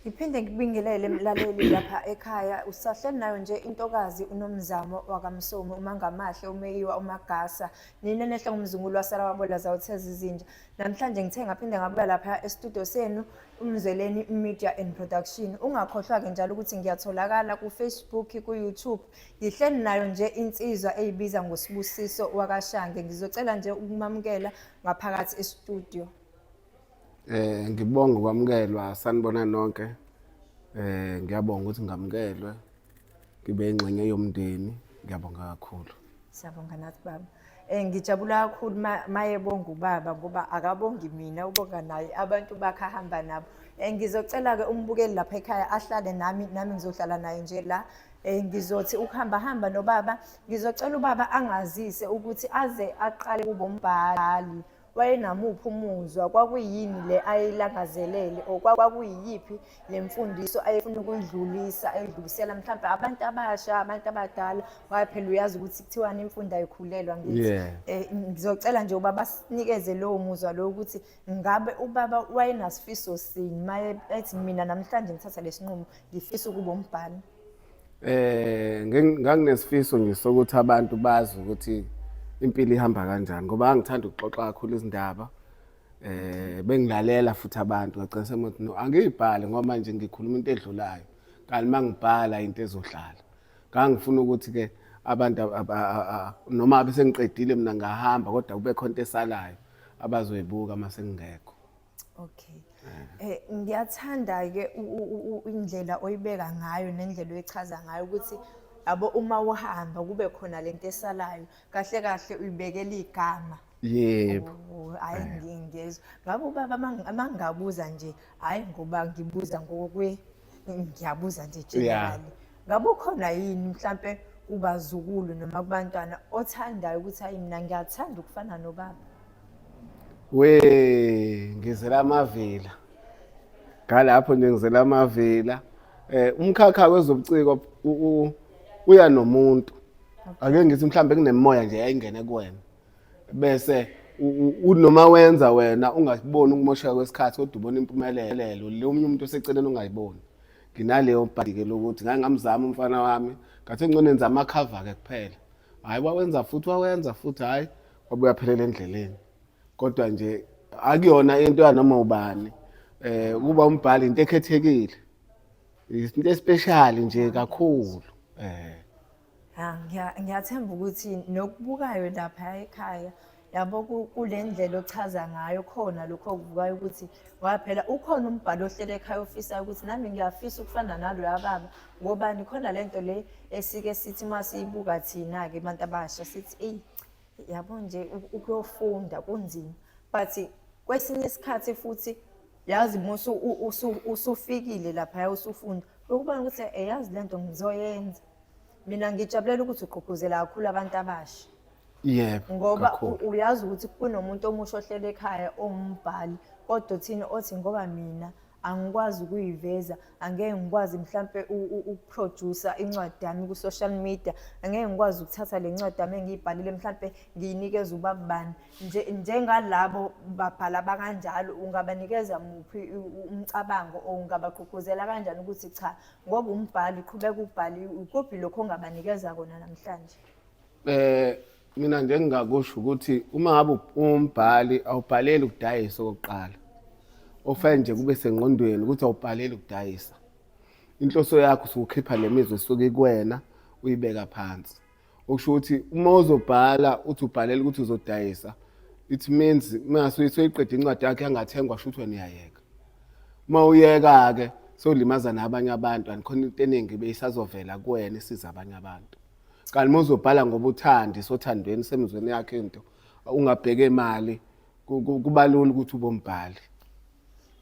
Ngiphinde ngibingelele mlaleli lapha ekhaya usahleli nayo nje intokazi unomzamo wakamsomi umangamahle umeyiwa umagasa nina nehle ngumzungulu wasala wabola zawutheza izinja namhlanje ngithe ngaphinde ngabuya lapha estudio senu umzweleni media and production ungakhohlwa ke njalo ukuthi ngiyatholakala ku Facebook ku YouTube ngihleli nayo nje insizwa eyibiza ngosibusiso wakashange ngizocela nje ukumamukela ngaphakathi estudio eh ngibonga ukwamukelwa sanibona nonke eh ngiyabonga ukuthi ngamukelwe ngibe ingxenye yomndeni ngiyabonga kakhulu siyabonga nathi baba Eh ngijabula kakhulu mayebonga ubaba ngoba akabongi mina ubonga naye abantu bakhe ahamba nabo. Eh ngizocela ke umbukeli lapha ekhaya ahlale nami nami ngizohlala naye nje la. Eh ngizothi ukuhamba hamba nobaba ngizocela ubaba angazise ukuthi aze aqale kubombhali wayenamuphi umuzwa kwakuyini le ayeyilangazelele or kwakuyiyiphi le mfundiso ayefuna ukuyidlulisa ayidlulisela mhlawumbe abantu abasha abantu abadala waye phela uyazi ukuthi kuthiwani imfundo ayikhulelwa ngithi eh, ngizocela nje uba basinikeze lowo muzwa lowo ukuthi ngabe ubaba wayenasifiso sini maye ethi mina namhlanje ngithatha lesinqumo ngifisa ukuba umbhali eh nganginesifiso nje sokuthi abantu bazi ukuthi impilo ihamba kanjani ngoba angithanda ukuxoxa kakhulu izindaba eh bengilalela futhi abantu ngagcina semuthi no angiyibhale ngoba manje ngikhuluma into edlulayo kanti mangibhala into ezohlala ngangifuna ukuthi ke abantu noma abe sengiqedile mina ngahamba kodwa kube khona into esalayo abazoyibuka uma sengingekho Okay. Eh ngiyathanda ke indlela oyibeka ngayo nendlela oyichaza ngayo ukuthi yabo uma uhamba kube khona lento esalayo kahle kahle uyibekela igama. Yebo. Oh, hayi eh. ngiyezwa. Ngabe ubaba mangabuza nje hayi ngoba ngibuza ngokwe ngiyabuza nje generally. Ngabe ukhona yini mhlambe kubazukulu noma kubantwana othandayo ukuthi hayi mina ngiyathanda ukufana nobaba? we ngizela amavila ngalapho nje ngizela amavila eh umkhakha wezobuciko uya nomuntu ake ngithi mhlambe kunemoya nje yayingene kuwena bese unoma wenza wena ungaboni ukumosheka kwesikhathi kodwa ubona impumelelo le omunye umuntu oseceleni ungayiboni nginaleyo bhadike lokuthi ngake ngamzama umfana wami ngathi ngcono enza amakhava-ke kuphela hhayi wawenza futhi wawenza futhi hhayi wabuya phelela endleleni kodwa nje akuyona into yanoma ubani eh kuba umbhali into ekhethekile into especial nje kakhulu eh ah, ngiyathemba ukuthi nokubukayo lapha ekhaya yabo kule ndlela ochaza ngayo khona lokho okuvukayo ukuthi waphela ukhona umbhalo ohlele ekhaya ofisa ukuthi nami ngiyafisa ukufana naloya baba ngobani khona le nto le esike sithi uma siyibuka thina-ke abantu abasha sithi eyi yabo nje ukuyofunda kunzima but kwesinye isikhathi futhi yazi musu usufikile lapha usufunda ukubona ukuthi eyazi lento ngizoyenza mina ngijabulela ukuthi ugqugquzela kakhulu abantu abasha yebo ngoba uyazi ukuthi kunomuntu omusha ohlele ekhaya owumbhali kodwa uthini othi ngoba mina angikwazi ukuyiveza angeke ngikwazi mhlampe ukuproducer incwadi yami ku-social media angeke ngikwazi ukuthatha le ncwadi yami engiyibhalile mhlampe ngiyinikeza ubabani njengalabo babhala bakanjalo ungabanikeza muphi umcabango or ungabagqugquzela kanjani ukuthi cha ngoba umbhali qhubeka ubhali ukuphi lokho ongabanikeza kona namhlanje um mina nje engingakusho ukuthi uma ngabe umbhali awubhaleli ukudayisa okokuqala ofanele nje kube sengqondweni ukuthi awubhaleli ukudayisa inhloso yakho usukukhipha le mizwa esuke ikwena uyibeka phansi okusho ukuthi uma uzobhala uthi ubhalela ukuthi uzodayisa it means masuyisoyiqeda incwadi yakhe yangathengwa sho ukuthi wena uyayeka uma uyeka-ke sowulimaza nabanye abantu andikhona into eningi beyisazovela kuwena isiza abanye abantu kanti uma uzobhala ngoba uthandi sothandweni semizweni yakhe into ungabheke imali ku- ku- kuba lula ukuthi ubombhali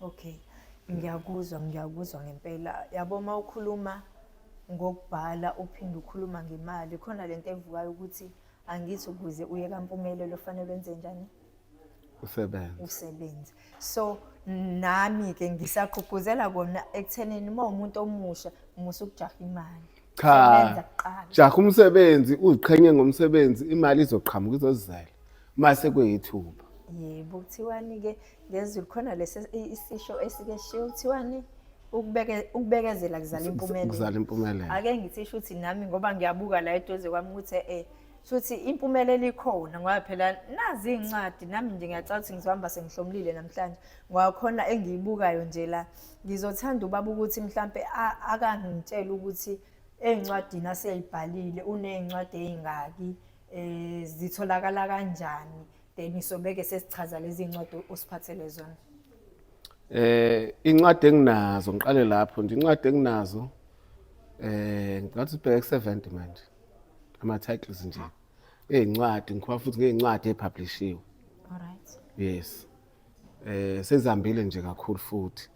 Okay. Ngiyakuzwa, ngiyakuzwa ngempela. Yabo uma ukhuluma ngokubhala uphinde ukhuluma ngemali, khona lento evukayo ukuthi angithi ukuze uye kampumelelo fanele wenze njani? usebenza usebenza so nami ke ngisaqhugquzela kona ekuthenini uma umuntu omusha musa ukujaha imali cha Sebenza kuqala. jaha umsebenzi uziqhenye ngomsebenzi imali izoqhamuka izozizela mase kuyithuba yebo kuthiwani ke ngezulu khona lesi i- isisho esike shiwo kuthiwani ukubeke- ukubekezela kuzala impumelelo kuzala impumelelo ake ngithisho ukuthi nami ngoba ngiyabuka la eduze kwami ukuthi eh Futhi impumelelo ikhona ngoba phela nazi izincwadi nami nje ngiyacabanga ukuthi ngizohamba sengihlomlile namhlanje ngoba khona engiyibukayo nje la ngizothanda ubaba ukuthi mhlampe akangitshela ukuthi ezincwadini aseyibhalile unezincwadi ezingaki eh zitholakala kanjani then isobeke sesichaza lezi zincwadi osiphathele zona eh incwadi enginazo ngiqale lapho nje incwadi enginazo eh ngathi ubheke 70 manje ama titles nje ezincwadi ngikhuluma futhi ngezincwadi epublishiwe alright yes eh sezihambile nje kakhulu futhi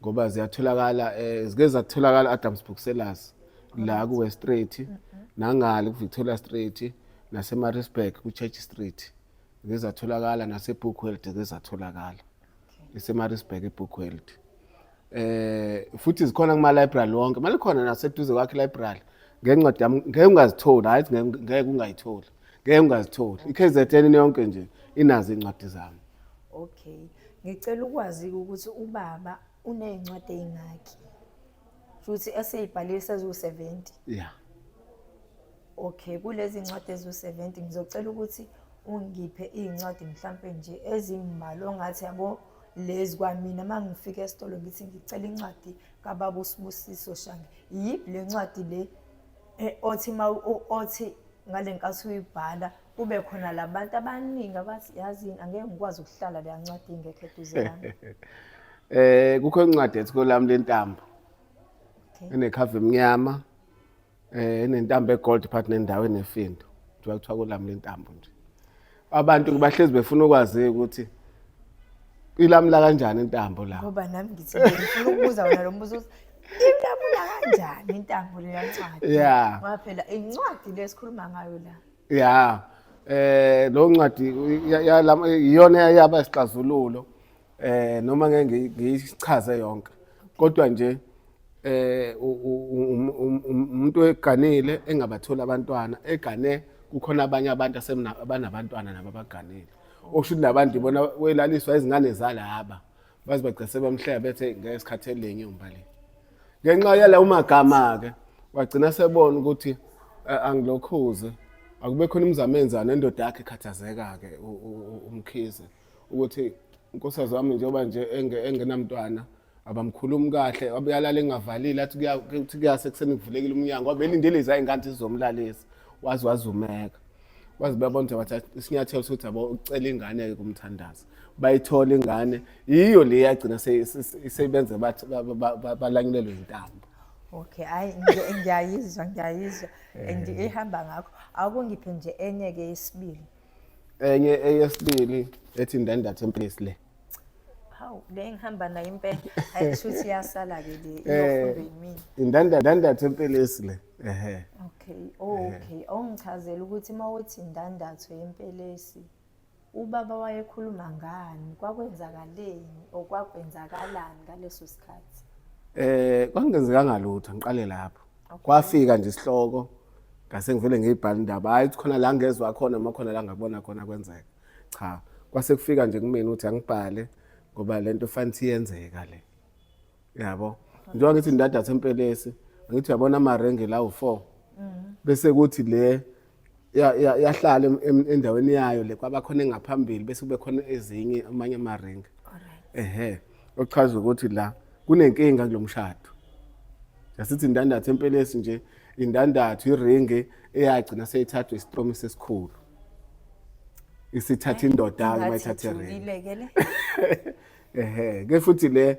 ngoba ziyatholakala eh zike zatholakala Adams Booksellers la ku West Street nangale ku Victoria Street nase Maritzburg ku Church Street zike zatholakala nase Bookworld zike zatholakala ise Maritzburg e Bookworld eh futhi zikhona kuma library wonke mali khona naseduze kwakhe library ngencwadi yami ngeke ungazitholi hayi ngeke ungayitholi ngeke ungazitholi iKZN yonke nje inazo incwadi zami okay ngicela ukwazi ukuthi ubaba unezincwadi ezingaki futhi eseyibhalile sezu 70 yeah okay kulezi ncwadi ezu 70 ngizocela ukuthi ungiphe izincwadi mhlampe nje ezimbalwa ongathi yabo lezi kwamina uma ngifika esitolo ngithi ngicela incwadi kababa usibusiso shange yiphi le ncwadi le eh, othi ma othi ngale nkathi uyibhala kube khona labantu abaningi abathi yazi angeke ngikwazi ukuhlala leya ncwadi ingekho eduze yami eh kukho incwadi ethi kolami lentambo okay. enekhava emnyama eh nentambo egold part nendawo enefindo njengoba kuthiwa kulami lentambo nje abantu bahlezi befuna ukwazi ukuthi ilamula kanjani intambo la ngoba nami ngithi ngifuna ukubuza wena lo mbuzo uthi ilamula kanjani intambo le yancwadi Yeah. ngoba phela incwadi le esikhuluma ngayo la ya eh lo ncwadi ya- ya- lam- iyona yaba isixazululo eh noma ngeke ngiyichaze yonke kodwa nje eh umuntu eganile engabathola abantwana egane kukhona abanye abantu asebanabantwana nabo abaganile osho ukuthi labantu ibona welaliswa izingane zalaba baze bagcese bamhleba bethe ngeke sikhathele lenye umbali ngenxa yala umagama ke wagcina sebona ukuthi eh, angilokhuze akube khona imizamo enzana nendoda yakhe ikhathazeka ke umkhize ukuthi inkosazana wami njengoba nje engenamntwana abamkhulumi kahle abuyalala engavalile athi kuthi kuyase kuseni kuvulekile umnyango wabe elindele izayingane zizomlalisa wazi wazumeka wazi babona ukuthi bathatha isinyathelo sokuthi abo ucela ingane-ke kumthandaza bayithola ingane yiyo le yagcina seyibenze balanyulelwe intambo okay hayi ngiyayizwa ngiyayizwa and ihamba ngakho akungiphe nje enye-ke yesibili enye eyesibili ethi ndandathe mplisi le hawu le ngihamba nayo impela hayi shuthi iyasala-ke le eh, iyofundwa yimina indandathe empelesi le ehe okay oh, okay awungichazela ukuthi uma uthi indandatho yempelesi ubaba wayekhuluma ngani kwakwenzakaleni or kwakwenzakalani ngaleso sikhathi eh kwangenzekanga lutho ngiqale lapho kwafika nje isihloko ngase ngivele ngiyibhala indaba hayi khona la ngezwa khona uma khona la ngabona khona kwenzeka cha kwase kufika nje kumina ukuthi angibhale ngoba lento fanele iyenzeka le yabo njengoba ngithi ndadatha empelesi angithi uyabona amarenge la u4 mm. bese kuthi le yahlala endaweni yayo le kwabakhona engaphambili bese kube khona ezinye amanye amaringa ehe okuchaza ukuthi la kunenkinga kulo mshado yasithi indandatho empelesi nje indandatho iringi eyagcina seyithathwa isitromi sesikhulu isithatha indoda uma ithatha iringi ehe ke futhi le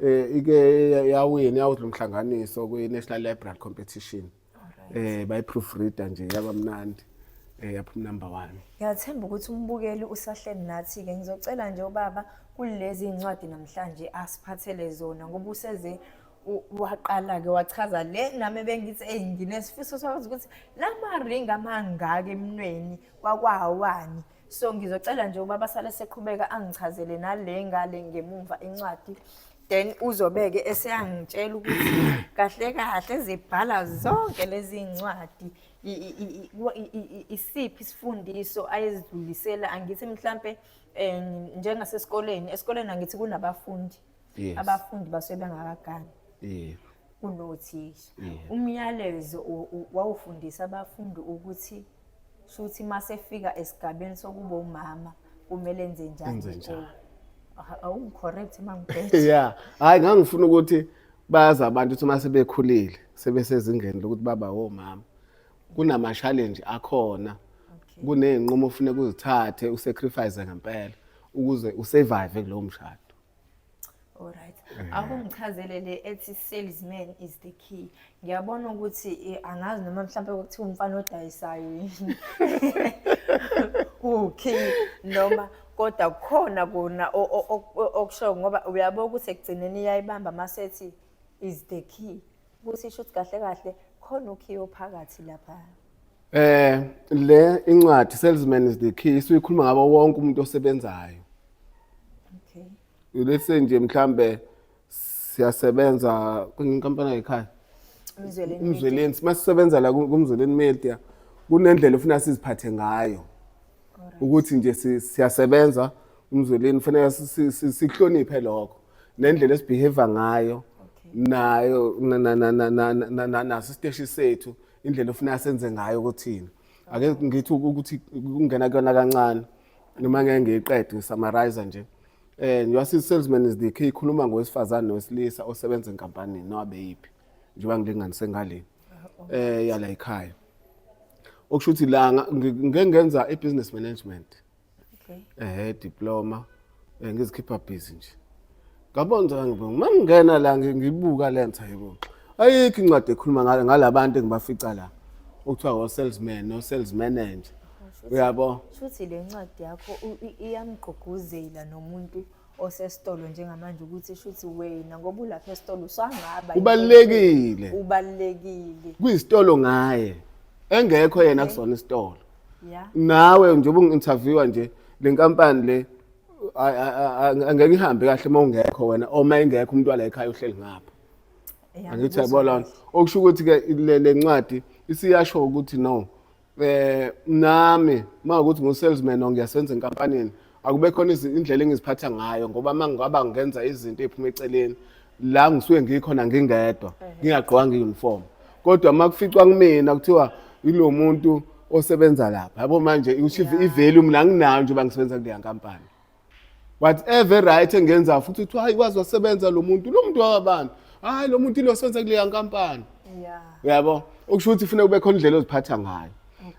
eh, ike yawina yawudla umhlanganiso kwi-national library competition eh bayiproofreader nje yabamnandi eh yapha number 1 ngiyathemba ukuthi umbukeli usahleni nathi ke ngizocela nje ubaba kulezi incwadi namhlanje asiphathele zona ngoba useze waqala ke wachaza le nami bengithi hey nginesifiso sokwazi ukuthi lama ring amangaka emnweni kwakwawani so ngizocela nje ubaba sale seqhubeka angichazele nale ngale ngemumva incwadi then uzobeke eseyangitshela ukuthi kahle kahle zibhala zonke lezi ncwadi isiphi isifundiso ayezidlulisela angithi mhlambe eh, njengasesikoleni esikoleni angithi kunabafundi abafundi basuke bengakagani yebo unothisha yeah. umyalezo wawufundisa abafundi ukuthi shuthi masefika esigabeni sokuba umama kumele enze njani awu correct mangibhethe yeah hayi ngangifuna ukuthi bayazi abantu ukuthi uma sebekhulile sebesezingeni lokuthi baba womama kunama-challenge akhona kuney'nqumo ofuneka uzithathe usacrifice ngempela ukuze usurvive kulowo mshado Alright. Eh. Akungichazele le ethi salesman is the key. Ngiyabona ukuthi eh, angazi noma mhlawumbe kuthiwa umfana odayisayo yini. Ukey noma kodwa kukhona kona okusho ngoba uyabo ukuthi ekugcineni iyayibamba masethi is the key ukuthi isho ukuthi kahle kahle khona ukhiye ophakathi lapha eh le incwadi salesman is the key isikhuluma ngabo wonke umuntu osebenzayo okay ulese nje mhlambe siyasebenza kwinkampani yayikhaya umzweleni masisebenza la kumzweleni media kunendlela ufuna siziphathe ngayo ukuthi nje siyasebenza umzweleni kufanele sihloniphe lokho nendlela esibehave ngayo nayo naso isiteshi sethu indlela ofuna senze ngayo kuthina ake ngithi ukuthi kungena kuyona kancane noma ngeke ngiyiqede ngisamarize nje eh njengoba si-salesman is the key ikhuluma ngowesifazane nowesilisa osebenza enkampanini noma beyiphi njengoba ngilinganise ngaleni eh yala ekhaya okusho ukuthi la ngeke ngenza i-business management okay eh diploma eh, ngizikhipha busy nje ngabonza ngibona uma ngingena la ngibuka lentha yebo ayikho incwadi ekhuluma ngale ngalabantu engibafica la okuthiwa wo salesman no sales manager uyabo shuthi le ncwadi yakho iyamgqugquzela nomuntu osesitolo njengamanje ukuthi shuthi wena ngoba ulapha esitolo usangaba ubalekile ubalekile kwisitolo ngaye engekho yena kusona isitolo nawe njengoba ungi-interviewa nje le nkampani le angeke ihambe kahle uma ungekho wena oma engekho umuntu wala ekhaya uhleli ngapha angithi yabona okusho ukuthi-ke le ncwadi isiyasho ukuthi no eh nami mawukuthi ngu salesman or ngiyasenza enkampanini akube khona indlela engiziphatha ngayo ngoba mangaba ngenza izinto eziphuma eceleni la ngisuke ngikhona ngingedwa ngingagqwanga uniform kodwa makuficwa kumina kuthiwa ilomuntu osebenza lapha yabo manje ushiva ivalue mina nginayo nje bangisebenza kuleya nkampani whatever right engenza futhi kuthiwa hayi wazi wasebenza lo muntu lo muntu wakabantu hayi lo muntu ilo senze kuleya nkampani yeah uyabo okusho ukuthi kufanele kube khona indlela oziphatha ngayo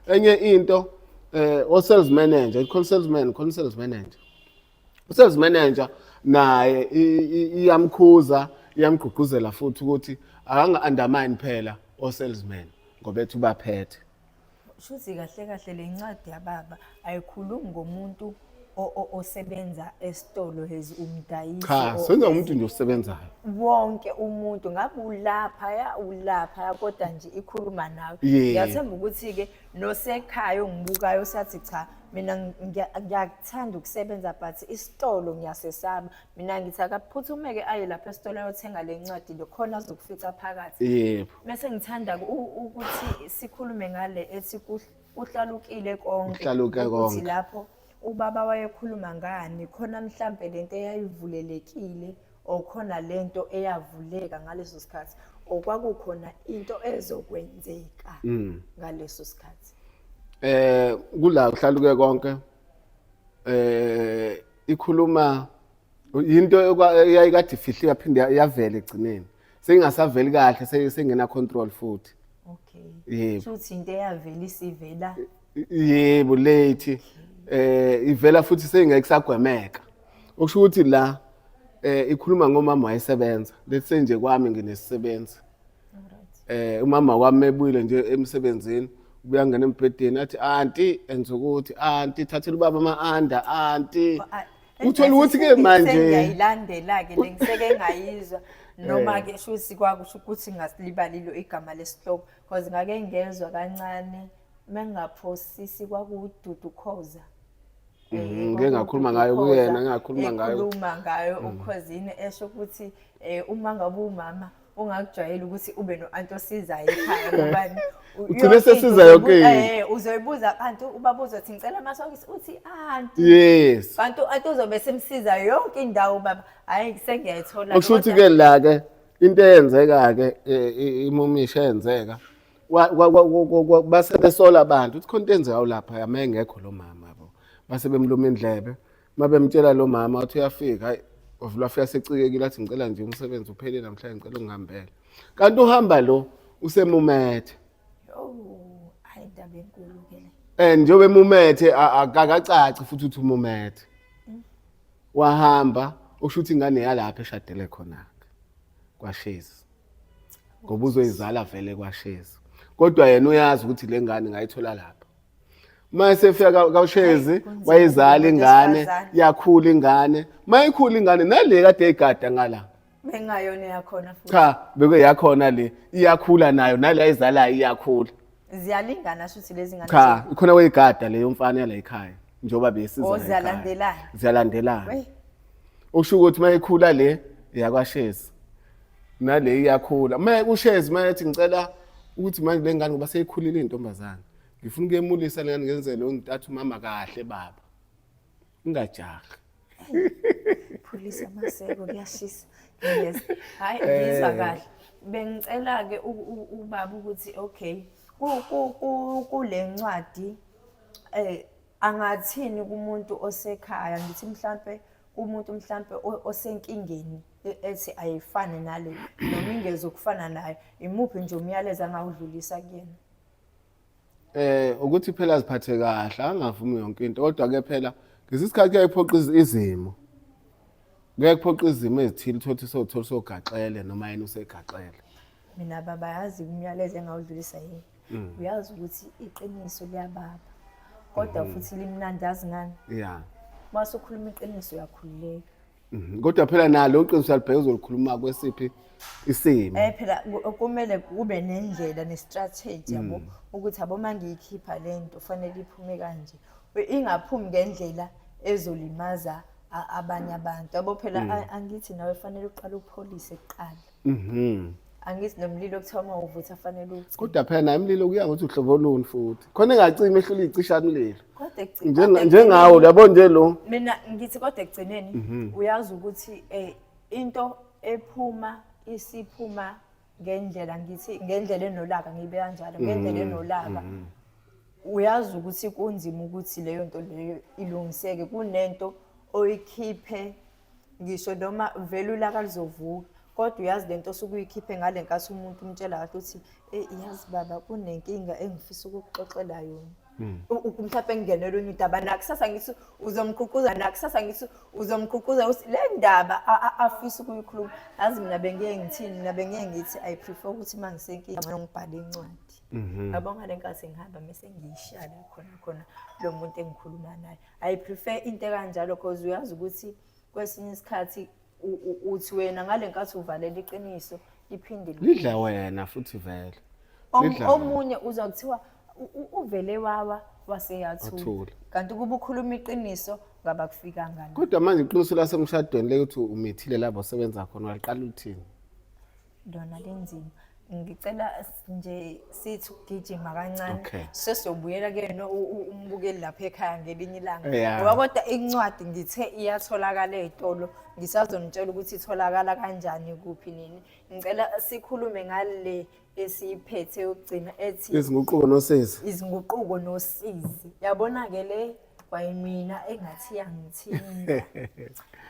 enye into eh o sales manager khona sales man khona sales manager u sales manager naye iyamkhuza iyamgqugquzela futhi ukuthi akanga undermine phela o salesman ngoba ethi ubaphethe shuthi kahle kahle le ncwadi yababa ayikhulumi ngomuntu osebenza esitolo hezi umdayisi cha senza umuntu nje osebenzayo wonke umuntu ngabe ulapha ya ulapha ya kodwa nje ikhuluma nawe ngiyathemba ukuthi ke nosekhaya ongibukayo sathi cha mina ngiyakuthanda ukusebenza but isitolo ngiyasesaba mina ngithi akaphuthumeke aye lapha esitolo ayothenga le ncwadi lokhona azokufica phakathi yebo Mese ngithanda ukuthi sikhulume ngale ethi kuhlalukile konke. Kuhlaluke konke. Ukuthi lapho ubaba wayekhuluma ngani khona mhlampe lento eyayivulelekile okhona lento eyavuleka ngaleso sikhathi okwakukhona into ezokwenzeka mm. ngaleso sikhathi eh kula uhlaluke konke eh ikhuluma into eyayikade ifihliwe yaphinde yavela egcineni sengingasaveli kahle se- sengena control futhi okay Yebo. shuthi into eyavela isivela yebo late eh ivela futhi sengeke sagwemeka okusho ukuthi la eh ikhuluma ngomama wayesebenza let's say nje kwami nginesisebenzi eh umama wami ebuyile nje emsebenzini ubuya ngena embhedeni athi anti enza ukuthi anti thathela ubaba ama anda anti Ba- a- Uthola ukuthi ke manje ngiyayilandela ke lengiseke ngayizwa noma eh. ke shuthi kwakusho ukuthi ngasilibalilo igama lesihloko because ngake ngezwa kancane mengaphosisi kwakududu khoza eh, mhm, ngeke ngakhuluma ngayo kuyena ngakhuluma ngayo ukhuluma ngayo ukhozini esho ukuthi eh, uma ngabe umama ungakujwayela ukuthi ube no-anti osizayo ekhaya ngobani ugcine sesiza yonke eh uzoyibuza abantu ubaba uzothi ngicela amasokisi uthi anti yes kanti anti uzobe esimsiza yonke indawo baba hayi sengiyayithola okusho ukuthi ke la ke into eyenzeka ke eh, imumisha eyenzeka base besola abantu ukuthi khona into enzeka lapha yame engekho lo mama bo base bemluma indlebe uma bemtshela lo mama uthi uyafika hayi wavula afika secikekile athi ngicela nje umsebenzi uphele namhlanje ngicela ungihambele kanti uhamba lo usemumethe and njengoba emumethe akakacaci futhi uthi umumethe wahamba usho ukuthi ingane yalapha eshadele khona-ke kwashezi ngoba uzoyizala vele kwashezi kodwa yena uyazi ukuthi le ngane ngayithola lapha uma esefika ka- kawushezi wayizala ingane yakhula ingane uma ikhula ingane nale kade igada ngala bengayona yakhona futhi cha beke yakhona le iyakhula nayo nale ayizalayo iyakhula ziyalingana shuthi lezi ngane cha ikhona weyigada leyo mfana yala ekhaya njengoba Oh, besiza la ekhaya. ziyalandelana. ziyalandelana Wey. usho ukuthi uma ikhula le iyakwashezi nale iyakhula uma ushezi uma ethi ngicela ukuthi manje le ngane ngoba seyikhulile intombazane ngifuna ukuyemulisa lengane ngenzele untatha umama kahle baba ungajahi phulisa amaseko kuyashisa yes hayi ngizwa eh. kahle bengicela ke ubaba ukuthi okay kule ncwadi eh angathini kumuntu osekhaya ngithi mhlambe kumuntu mhlambe osenkingeni e-, ethi ayifane nale noma ingezokufana nayo imuphi nje umyalezo angawudlulisa kuyena eh ukuthi phela aziphathe kahle angavumi yonke into kodwa ke phela ngesikhathi kuyayiphoqa izimo kuyakuphoqa izimo ezithile uthothe sothola sogaxele noma yena usegaxele mina baba yazi umyalezo engawudlulisa yini mm. uyazi ukuthi iqiniso liyababa kodwa mm. futhi limnandi yazi ngani ya mase ukhuluma iqiniso uyakhululeka Mhm. Kodwa phela nalo iqiniso alibheke uzolikhuluma kwesiphi isimo. Eh phela ku- kumele kube nendlela nestrategy yabo Mm. ukuthi abo mangiyikhipha lento fanele iphume kanje I- ingaphumi ngendlela ezolimaza a- abanye abantu yabo phela Mm. a- angithi nawe fanele uqale upholise kuqala Mhm. angithi nomlilo kuthiwa uma uvutha afanele uwucime kodwa phela naye umlilo kuya ngokuthi uhlobo luni futhi khona engacimi ehlula iyicisha mlilo kodwa ekugcin- Njenga- kodwa njengawo ekugcineni- uyabo nje lo Mhm. mina ngithi kodwa ekugcineni uyazi ukuthi um into ephuma isiphuma ngendlela ngithi ngendlela enolaka ngiyibe kanjalo ngendlela Mhm. enolaka uyazi ukuthi kunzima ukuthi leyo nto leyo ilungiseke kunento oyikhiphe ngisho noma vele ulaka luzovuka kodwa uyazi lento osuke uyikhiphe ngale nkathi umuntu umtshela kahle ukuthi eh yazi baba kunenkinga engifisa ukukuxoxela yona hmm. mhlawumbe engingenela onye udaba nakusasa ngithi uzomququza nakusasa ngithi uzomququza ukuthi le ndaba afisa ukuyikhuluma yazi mina bengeke ngithini mina bengeke ngithi i prefer ukuthi uma ngisenkinga ngcono ngibhale incwadi mhm. yabo ngale nkathi ngihamba mese ngiyishaya khona khona lo muntu engikhuluma naye I prefer into ekanjalo because uyazi ukuthi kwesinye isikhathi uthi wena ngale nkathi uvalela iqiniso liphinde lidla wena futhi vele omunye uza kuthiwa uvele wawa waseyathula kanti kuba ukhuluma iqiniso ngabakufikanga kodwa manje iqiniso lasemshadweni lekuthi umithile labo sebenza khona waliqala uthini lona linzima ngicela nje sithi ugijima kancane okay. sesiyobuyela kuyena umbukeli lapha ekhaya ngelinye ilanga yeah. ngoba kodwa incwadi ngithe iyatholakala ey'tolo ngisazonitshela ukuthi itholakala kanjani kuphi nini ngicela sikhulume ngale esiyiphethe yokugcina ethi izinguquko nosizi izinguquko nosizi yabona-ke le kwayimina engathi yangithinta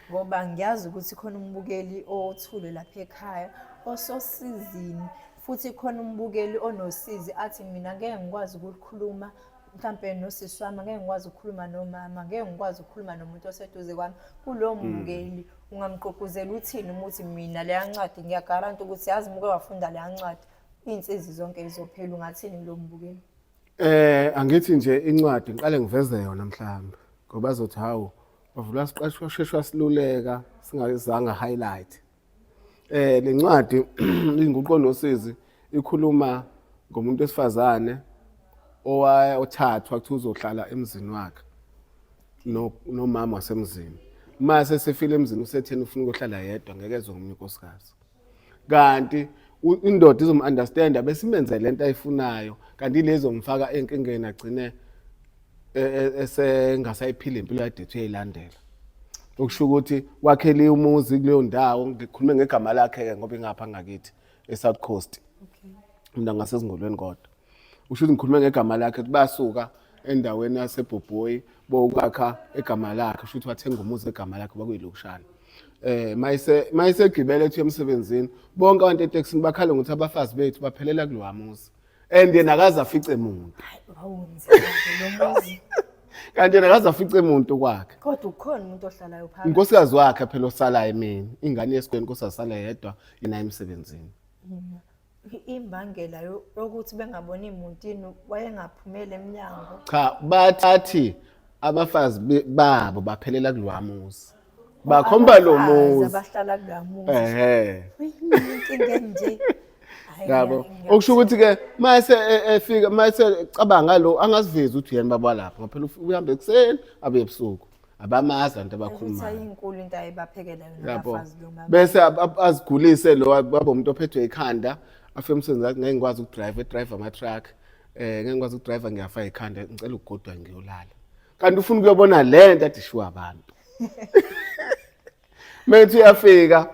ngoba ngiyazi ukuthi khona umbukeli othule lapha ekhaya ososizini futhi khona umbukeli onosizi athi mina ngeke ngikwazi ukulikhuluma mhlampe nosisi wami ngeke ngikwazi ukukhuluma nomama ngeke ngikwazi ukukhuluma nomuntu oseduze kwami kulowo hmm. mbukeli ungamgqugquzela uthini umuthi mina leya ncwadi ngiyagaranta ukuthi yazi muke wafunda leya ncwadi iy'nsizi zonke zizophela ungathini kulowo mbukeli Eh angithi nje incwadi ngiqale ngiveze yona mhlawumbe ngoba azothi hawu bavula siqashwa sheshwa siluleka singayizanga highlight. Eh lencwadi inguqo nosizi ikhuluma ngomuntu wesifazane owaya othathwa kuthi uzohlala emzini wakhe nomama wasemzini. Mase sefile emzini usetheni ufuna ukuhlala yedwa ngeke ezwe ngomunye unkosikazi. kanti indoda izomu-understanda besimenze le nto ayifunayo kanti ilezo mfaka enkingeni agcine e, e, esengasayiphila impilo yade ethi uyayilandela okusho ukuthi wakhele umuzi kuleyo ndawo ngikhulume ngegama lakhe-ke ngoba ingapha ngakithi e-south coast mina ngasezingolweni kodwa usho ukuthi ngikhulume ngegama lakhe ukuthi basuka endaweni yasebhobhoyi bokwakha egama lakhe shuthi wathenga umuzi egama lakhe bakuyilokushana eh mayise mayisegibele ethi emsebenzini bonke abantu eTexini bakhala ngokuthi abafazi bethu baphelela kulowa muzi and yena akaze afice muntu kanti yena akaze afice muntu kwakhe kodwa ukhona umuntu ohlalayo phakathi unkosikazi wakhe phela osalayo emini ingane yesikweni nkosazisala yedwa yena emsebenzini imbangela yokuthi bengaboni imuntini wayengaphumeli emnyango cha bathathi abafazi babo baphelela kulwamuzi bakhomba lo muzi abahlala kulwamuzi ehe inkinga nje yabo okusho ukuthi ke mase e, efika mase cabanga lo angazivezi ukuthi yena baba lapha ngoba phela uhambe ekuseni abe ebusuku abamazi abantu abakhuluma ayinkulu into ayibaphekela yona abafazi lo mama bese azigulise lo baba umuntu ophethwe ikhanda afike umsebenzi wakhe ngeke ngikwazi ukudrive drive ama truck eh ngeke ngikwazi ukudrive ngiyafa ikhanda ngicela ukugodwa ngiyolala kanti ufuna ukuyobona lento athi shuwa abantu Methi uyafika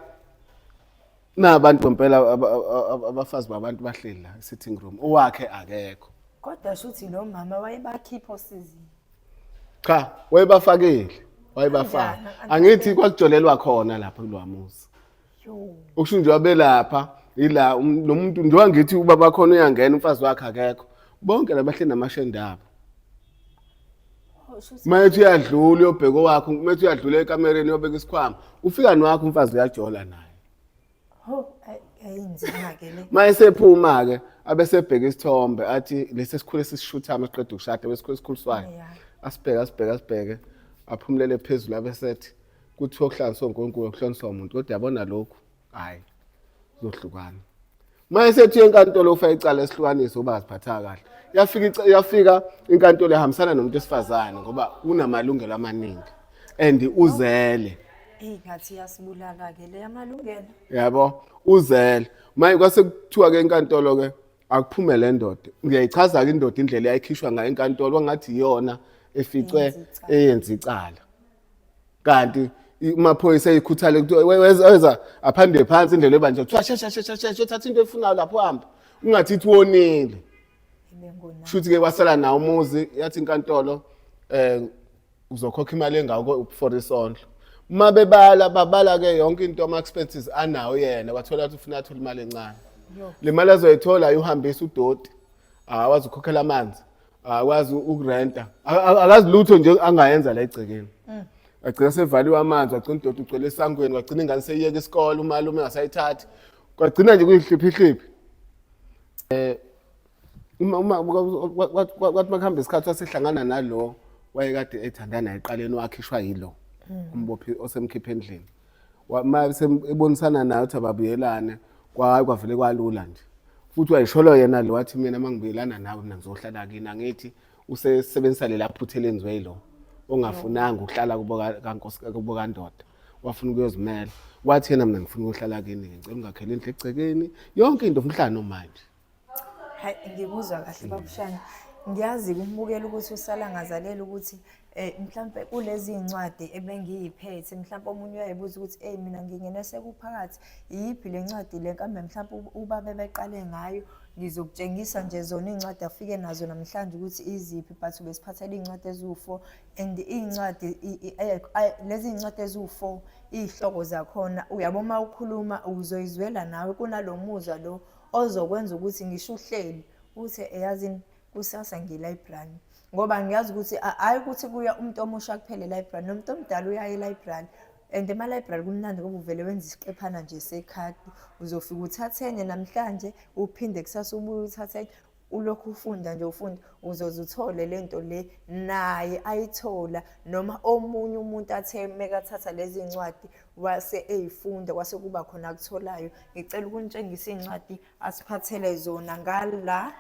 nabantu ngempela abafazi babantu bahleli la sitting room owakhe akekho kodwa shuthi lo mama wayebakhipha osizini cha wayebafakile wayebafaka angithi kwakujolelwa khona lapha kulwamuzi ukusho nje wabelapha ila um, lo muntu njengoba ngithi ubaba khona uyangena umfazi wakhe akekho bonke labahleli namashende abo Mayethi uyadlula uyobheka owakho, mayethi uyadlula ekamereni uyobeka isikhwama. Ufika nowakho umfazi uyajola naye. Ho, ay- ayinzima ke le. Mayesephuma ke abesebheka isithombe athi lesi sikhule sisishuthama siqeda ukushada besikhule sikhuliswayo. Yeah. Asibheke asibheke asibheke aphumulele phezulu abesethi kuthiwa okuhlanganiswa uNkulunkulu okuhlanganiswa umuntu kodwa yabona lokhu hayi zohlukana uma esethi enkantolo ufake icala esihlukaniso uba aziphatha kahle yafika yafika inkantolo ehambisana nomuntu esifazane ngoba unamalungelo amaningi and uzele eyi ngathi yasibulala ke le amalungelo yabo uzele manje kwase kuthiwa ke enkantolo ke akuphume le ndoda ngiyayichaza ke indoda indlela yayikhishwa ngayo enkantolo wangathi iyona eficwe eyenza icala kanti amaphoyisa eyikhuthale weza aphande phansi indlela ebanje kuthiwa shesha shesha shesha uthatha into efunayo lapho hamba ungathi ithi wonile shuthi ke wasala nawo umuzi yathi inkantolo eh uzokhokha imali engako for isondlo uma bebala babala ke yonke into ama expenses anawo yena wathola ukuthi ufuna athola imali encane le mali azoyithola ayuhambisa udoti awazi ukhokhela amanzi akwazi ukurenta akazi lutho nje angayenza la egcekeni mm. agcina sevaliwe amanzi wagcina udoti ugcwele esangweni wagcina ingane seyiyeka isikole umalume engasayithathi kwagcina nje kuyihliphihliphi eh uma uma kwathi makuhamba isikhathi wasehlangana nalo wayekade ethandana eqaleni wakhishwa yilo mm. umbophi osemkhiphe endlini uma ebonisana naye ukuthi ababuyelane kwahayi kwavele kwalula nje futhi wayisholo yena lo wathi mina uma ngibuyelana nawe mina ngizohlala kini angithi usesebenzisa lela phutha elenziwe yilo ongafunanga ukuhlala kubo kandoda wafuna ukuyozimela wathi yena mina ngifuna ukuhlala kini ngicela ungakhele indlu egcekeni yonke into umhlano manje hayi ngikuzwa kahle babushana ngiyazi kumbukela ukuthi usala ngazalela ukuthi eh mhlambe kulezi incwadi ebengiyiphethe mhlambe omunye uyayibuza ukuthi hey mina ngingene sekuphakathi iyiphi le ncwadi le kambe mhlambe ubabe beqale ngayo ngizokutshengisa nje zona iy'ncwadi afike nazo namhlanje ukuthi iziphi but besiphathela iy'ncwadi eziwu-four and iy'ncwadi lezi iy'ncwadi eziwu-four iy'hloko zakhona uyabo uma ukhuluma uzoyizwela nawe kunalo muzwa lo ozokwenza ukuthi ngisho uhleli uthe eyazini kusasa ngilibrary ngoba ngiyazi ukuthi hhayi ukuthi kuya umuntu omusha kuphele library nomuntu omdala uyaye library and ema-library kumnandi ngoba uvele wenza isiqephana nje sekhadi uzofika uthathe enye namhlanje uphinde kusasa ubuye uthathe enye ulokhu ufunda nje ufunda uzoze uthole lento le naye ayithola noma omunye umuntu athe mekathatha lezi ncwadi wase eyifunda kwase kuba khona akutholayo ngicela ukunitshengisa iy'ncwadi asiphathele zona ngala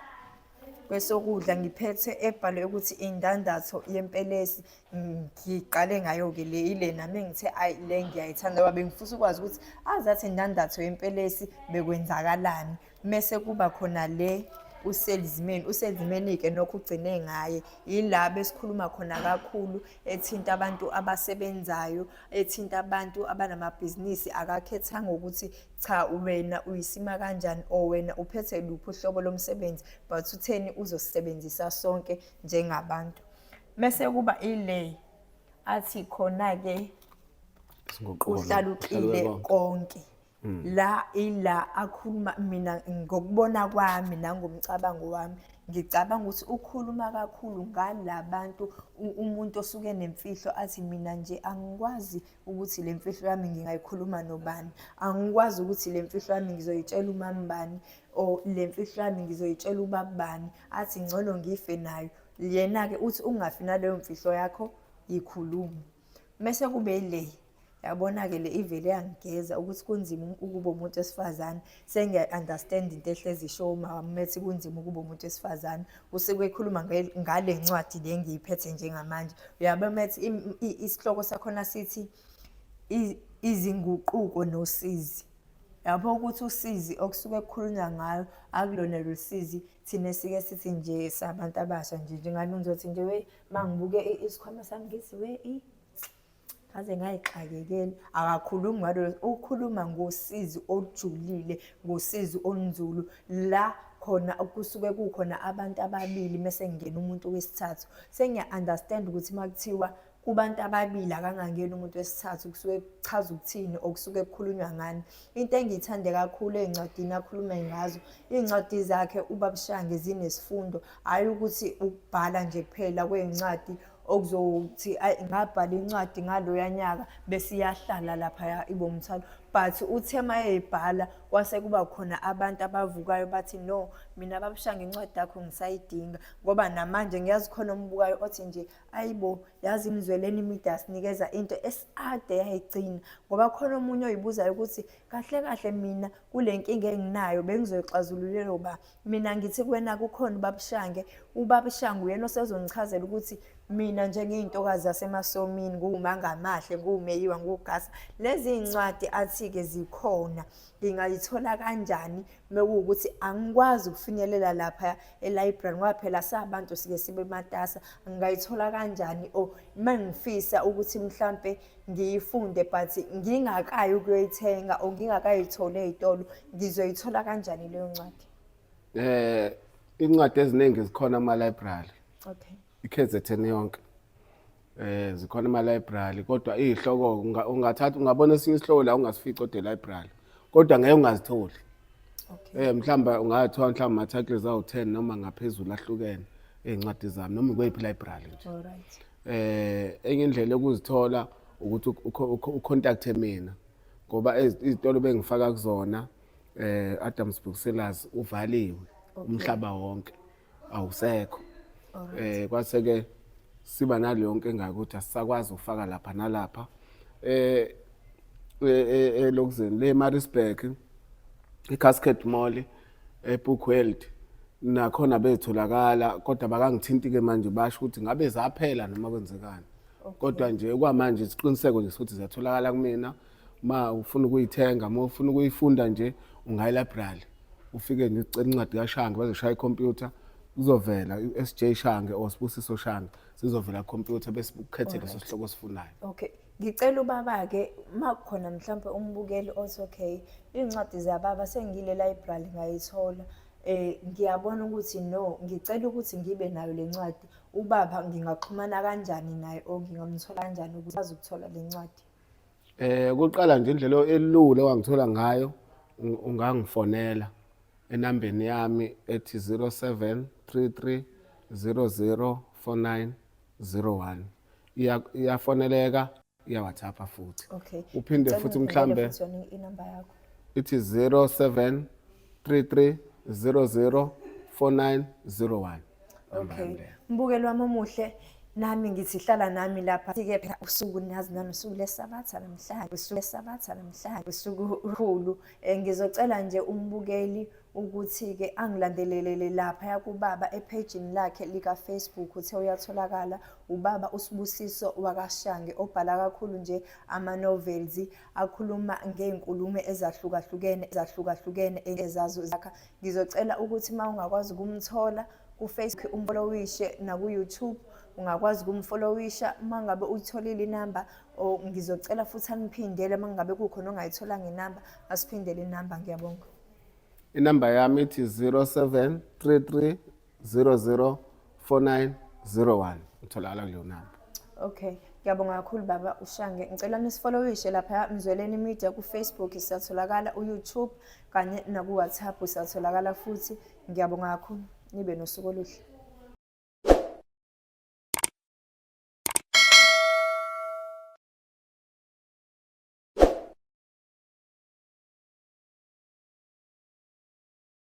kwesokudla ngiphethe ebhalwe ukuthi indandatho yempelesi ngiqale ngayo-ke le ile nami ngithe ayi le ngiyayithanda ngoba bengifisa ukwazi ukuthi azathi indandatho yempelesi bekwenzakalani mese kuba khona le uselizimeni uselizimeni-ke nokho ugcine ngaye yila besikhuluma khona kakhulu ethinta abantu abasebenzayo ethinta abantu abanamabhizinisi akakhethanga ukuthi cha wena uyisima kanjani or wena uphethe luphi uhlobo lomsebenzi but utheni uzosisebenzisa sonke njengabantu mese kuba ile athi khona-ke uhlaluqile konke la ila akhuluma mina ngokubona kwami nangomcabango wami ngicabanga ukuthi ukhuluma kakhulu ngalabantu umuntu osuke nemfihlo athi mina nje angikwazi ukuthi le mfihlo yami ngingayikhuluma nobani angikwazi ukuthi le mfihlo yami ngizoyitshela umambani or le mfihlo yami ngizoyitshela ubabani athi ngcono ngife nayo yena-ke uthi ungafi naleyo mfihlo yakho yikhulume mese kube le yabona-ke le ivele yangigeza ukuthi kunzima um-, ukuba umuntu wesifazane sengiya-understand into ehlezi isho umama methi kunzima ukuba umuntu wesifazane usuke ekhuluma ngale ncwadi le ngiyiphethe njengamanje uyabe methi isihloko sakhona sithi izinguquko nosizi lapho ukuthi usizi okusuke kukhulunywa ngayo akulona lolu sizi thina sike sithi nje sabantu abasha nje njengani ngizothi nje mangibuke isikhwama sami ngithi we i ngaze ngayixakekela akakhulumi ngalo ukhuluma ngosizi olujulile ngosizi olunzulu la khona kusuke kukhona abantu ababili mese ngingena umuntu wesithathu sengiya understand ukuthi makuthiwa kubantu ababili akangangeni umuntu wesithathu kusuke kuchaza ukuthini okusuke kukhulunywa ngani Into engiyithande kakhulu ey'ncwadini akhulume ngazo, iy'ncwadi zakhe uBabshange zinesifundo, hhayi ukuthi ukubhala nje kuphela kwey'ncwadi okuzothi ayi ngabhala incwadi ngaloya nyaka bese iyahlala laphaya ibe umthwalo but uthe uma eyibhala kwase kuba khona abantu abavukayo bathi no mina babushange incwadi yakho ngisayidinga ngoba namanje ngiyazi khona ombukayo othi nje ayibo yazi imizweleni imide asinikeza into esiade yayigcina ngoba khona omunye oyibuzayo ukuthi kahle kahle mina kule nkinga enginayo bengizoyixazululela uba mina ngithi kuwena kukhona ubabushange ubabushange uyena osezongichazela ukuthi mina njengeyintokazi yasemasomini nguwumangamahle nguwumeyiwa nguwugasa lezi ncwadi athi-ke zikhona ngingayithola kanjani mekuwukuthi angikwazi ukufinyelela lapha e-library ngoba phela sabantu sike sibe matasa ngingayithola kanjani or uma ngifisa ukuthi mhlampe ngiyifunde but ngingakayi ukuyoyithenga or ngingakayitholi ey'tolo ngizoyithola kanjani leyo ncwadi eh incwadi eziningi zikhona ama-library okay i-kzn yonke Eh zikhona ama library kodwa izihloko ungathatha ungabona esinye isihloko la ungasifica ode library kodwa ngeke ungazitholi. Okay. Eh mhlawumbe ungathiwa mhlawumbe ama titles awu 10 noma ngaphezulu ahlukene ezincwadi zami noma kweyiphi library nje. Alright. Eh enye indlela yokuzithola ukuthi ucontacte mina ngoba izitolo bengifaka kuzona eh Adams Booksellers uvaliwe umhlaba wonke. awusekho eh kwase ke siba naleyo yonke engaka ukuthi asisakwazi ukufaka lapha nalapha eh elokuzeni le Maritzburg iCascade Mall eBook World nakhona betholakala kodwa bakangithinti ke manje basho ukuthi ngabe zaphela noma kwenzekani kodwa nje kwamanje isiqiniseko nje sokuthi ziyatholakala kumina uma ufuna ukuyithenga uma ufuna ukuyifunda nje ungayi library ufike nje ucela incwadi kaShange bazoshaya ikhompyutha kuzovela uSJ Shange or Sibusiso Shange sizovela computer bese ukhethe leso sihloko osifunayo okay ngicela ubaba ke makukhona mhlawumbe umbukeli othi okay incwadi zababa sengile library ngayithola eh ngiyabona ukuthi no ngicela ukuthi ngibe nayo lencwadi ubaba ngingaxhumana kanjani naye or ngingamthola kanjani ukuthi azokuthola lencwadi Eh kuqala nje indlela elula wangithola ngayo ungangifonela enambeni yami ethi 0733 004901 iyafoneleka iya WhatsApp futhi okay uphinde futhi mhlambe inamba yakho ithi 07 33 00 4901 okay mbukelo wami omuhle nami ngithi hlala nami lapha sike phela usuku nazi nami usuku lesabatha namhlanje usuku lesabatha namhlanje usuku uhulu eh, ngizocela nje umbukeli ukuthi ke angilandelelele lapha yakubaba ephejini lakhe lika Facebook uthe uyatholakala ubaba usibusiso wakashange obhala kakhulu nje ama novels akhuluma ngey'nkulumo ezahlukahlukene ezahlukahlukene ezazo zakha ngizocela ukuthi uma ungakwazi ukumthola kufacebook umfolowishe nakuyoutube ungakwazi ukumfolowisha uma ngabe uyitholile inamba or ngizocela futhi aniphindele uma ngabe kukhona ongayitholanga inamba asiphindele inamba ngiyabonga inamba yami ithi 0733 004901 utholakala kuleyo namba okay ngiyabonga kakhulu baba ushange ngicela nisifollowishe lapha mzweleni media kufacebook siyatholakala uyoutube kanye nakuwhatsapp siyatholakala futhi ngiyabonga kakhulu nibe nosuku oluhle